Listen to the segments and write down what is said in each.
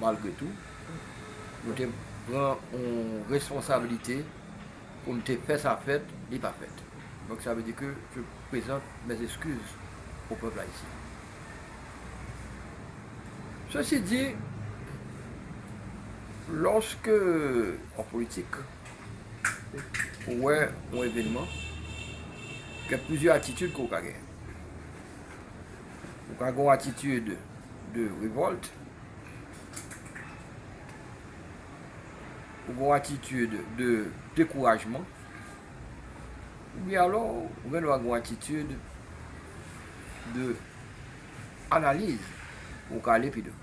Malgre tou, mwen te pran yon responsabilite pou m te fè sa fèt, li pa fèt. Donk sa vle di ke je prezante mes excuses au peuple haïtien. Sesi di, lòske an politik, ou wè yon evenman, gen plizyè atitid ke ou ka genyen. Ou ka gen yon atitid de revòlt. Ou gen yon atitid de dekourajman. Ou byen alò, ou gen dwa gen yon atitid de analiz pou ou ka ale pi devan.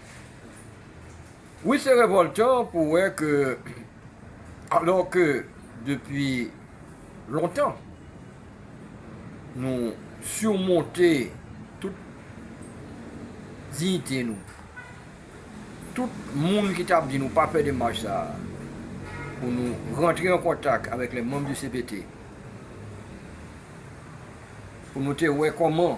Wi se revoltan pou wè ke alò ke depi lontan nou surmonte tout diyite nou, tout moun ki tap di nou pa fè demach sa a pou nou rantre an kontak avèk les membres du cpt pou nou te wè kòman.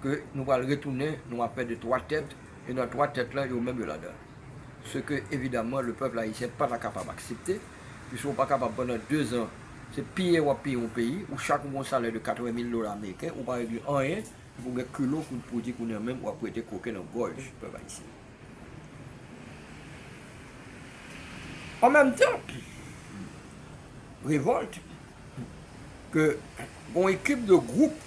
ke nou pral retounen nou ap pè de 3 tèt e nan 3 tèt lan yo menm yo ladan l. Se ke evidaman le pèp ayisyen pa ta kapab aksepte piske ou pa kapab pandan 2 zan se piye w ap piye yon peyi ou chak ou gen yon salè de 80 mil dola ameriken ou pa regle anyen epi ou gen kilo pou di kounye an menm w ap prete koken nan gòj pèp ayisyen. An menm tan revòlte ke gen yon ekip de gwoup.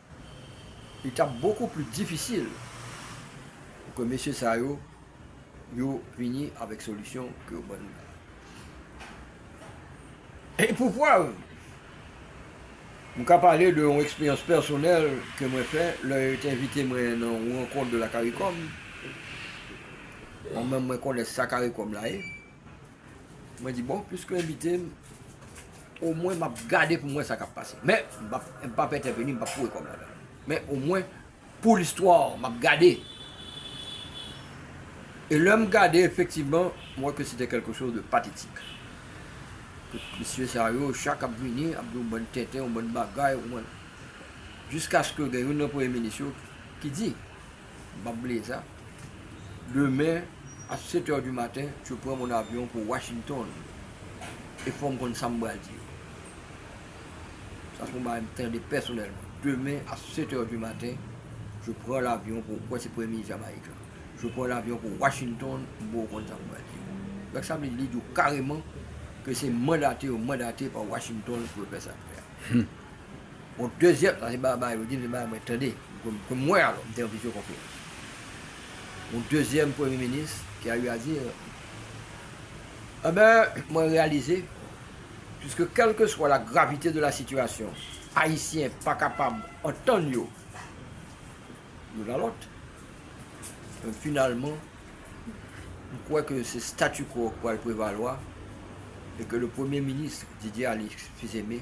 Li t ap bokou pli difisil pou ke mesye sa yo, yo vini avèk solisyon ke yo ban nou la. E pou prèv, m ka pale de yon eksperyans pèsonèl ke mwen fè lè yo te envite mwen nan yon rankont de la caricom, mwen menm mwen konnen sa caricom la ye. Mwen di bon, pwiske yo envite m, omwen m ap gade pou m wè sa k ap pase. Men, m pa p ap entèveni, m pa p foure kò m ladan l. Men omwen, pou listwa, m ap gade. E lè m gade, efektivman, m wè ke sete kèlke chòz de patetik. Tout mesye sa yo, chak ap vini, ap di yon bann tenten, yon bann bagay, yon bann... Jiskaske gen youn nan premye minis yo ki di, Bab Bleza, Demen a 7 heures du matin je prends mon avion pour Washington e fòm konn sam pral di yo. Sa se yon bagay m tande pèsonèlman. Demen a 7 heures du matin je prends l'avion pour, m kwè se premye minis Jamayik lan, je prends l'avion pour Washington m poko konn sam pral di yo. Donk sa vle di li di w kareman ke se mandate yo mandate pa Washington pou yo fè sa yo fè a. Yon dezyèm sa se Baba yo di m se Baba mwen tande ke m wè alò m te yon pifyo konplo yon dezyèm premye minis ki a eu à dire Enben mwen reyalize puiske kèlkeswa la gravite de la sitiyasyon ayisyen pa kapab antann yo youn a lòt Enben finalman m kwè ke se statu quo ki pral prevalwa e ke le premye minis Didier Alexis Aimé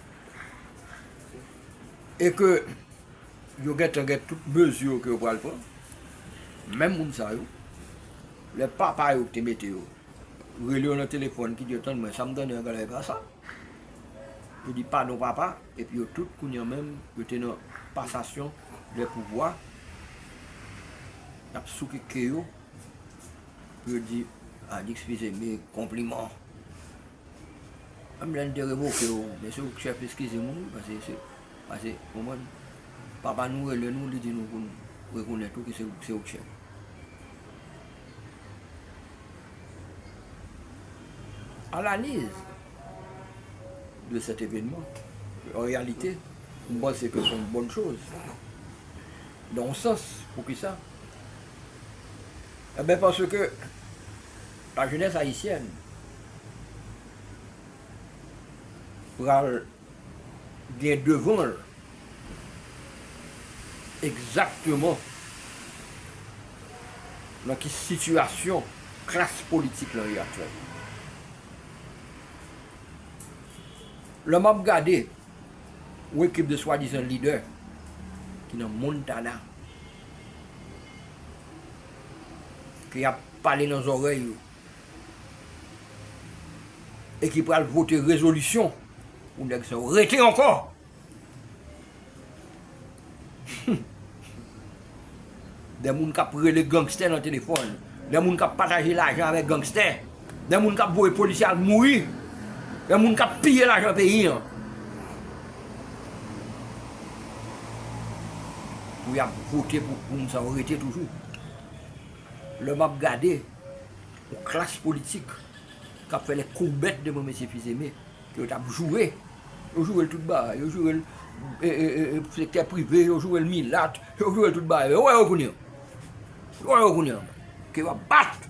e ke yo gentan gen tout mezi yo ke yo pral pran, menm moun sa yo, lè papa yo ki te mete yo, rele yo nan telefòn ki di yo, tann mwen, sa m tande an gade e pa sa, yo di padon papa, epi yo tout kounye an menm, yo te nan pasasyon de pouvwa, y ap souke ke yo, pou yo di, Alix Fils-Aimé, konpliman. Menm lè n te revoke w, mesye w chèf eskize moun wi pase se, pase ou konprann, papa nou rele nou li di nou pou n rekonèt ou ke se ou k chèf. Analiz de sèt evenman, an reyalite, m panse ke se yon bòn choz, dan yon sans, poukisa? Enben paske. La jeunesse haïtienne pral gen devan l egzakteman nan ki sitiyasyon klas politik lan ye aktyèlman. Lè m ap gade yon ekip de swadizan lidè ki nan Montana, ki ap pale nan zòrèy yo e ki pral vote rezolisyon pou nèg sa yo rete ankò. Hum! Dè moun k ap rele gangstè nan telefòn, dè moun k ap pataje lajan avèk gangstè. Gen moun kap voye polisye al mouri, gen moun kap piye lajan peyi an. Pou yap vote pou moun sa yo rete toujou. Lè map gade yon klas politik kap fè lè kourbèt devan mesye Fils-Aimé ke yo tap joure, yo jourel tout bagay, yo jourel sektè prive, yo jourel milat, yo jourel tout bagay. Yo wè yo kounye an. Yo wè yo kounye an ke yo ap bat.